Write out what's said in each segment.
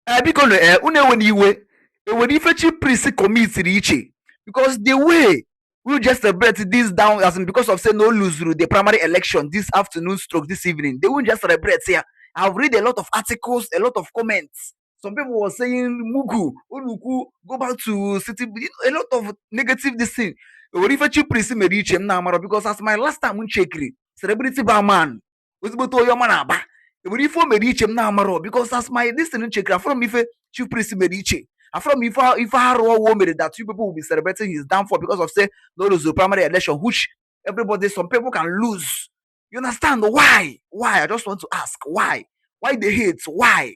ee biko na ee unu enwere iwe enwere ife chi priest commitiri iche because the way we just celebrate this down as in because of say no luzuru the primary election this afternoon stroke this evening they will just celebrate here i've read a lot of articles a lot of comments some people were saying mugu oluku go back to city you know, a lot of negative this thing enwere ife chi priest mere iche m na-amara because as my last time m chekiri celebrity bar man ezigbote onye ọma na Aba o nwere ife o mere iche m na-amarọ because as my this thing m chekiri afụrọ m ife chief priest mere iche afụrọ m ife ife arụ ọ wụ o mere that you people will be celebrating his downfall because of say na o luzuru primary election which everybody some people can lose you understand why why i just want to ask why why the hate why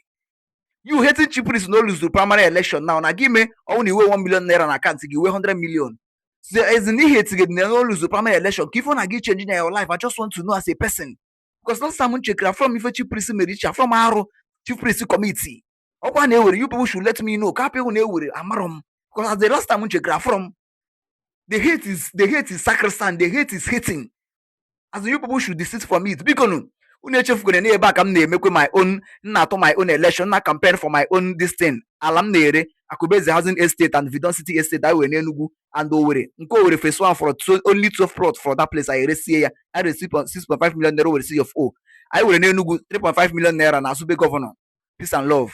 you hating chief priest na o luzuru primary election now na ga-eme ọ wụ na i nwe 1 million naira na akantị gị i nwee 100 million so as in i hetigide na o luzuru primary election kee ife ọ na-aga ị change na your life i just want to know as a person because last time m chekara afụrọ m ife chief priest mere iche afụrọ m arụ chief priest kọmitiri ọ kwa na e nwere you people should let me know ka apịhụ na e nwere amarọ m because as the last time m chekara afụrọ m the hate is the hate is sacrosanct the hate is hating as you people should desist from it bikonu unu echefukwana na ebe a ka m na-emekwe my own na-atụ my own election na campaign for my own this thing ala m na-ere akụbeze housing estate and vidon city estate anyị nwere n'enugwu and owere nke owere phase one fọdụ only 12 plot for that place anyị resie ya anyị resi 6.5 million naira nwere C of O anyị nwere n'enugwu 3.5 million naira na asube gọvanọ peace and love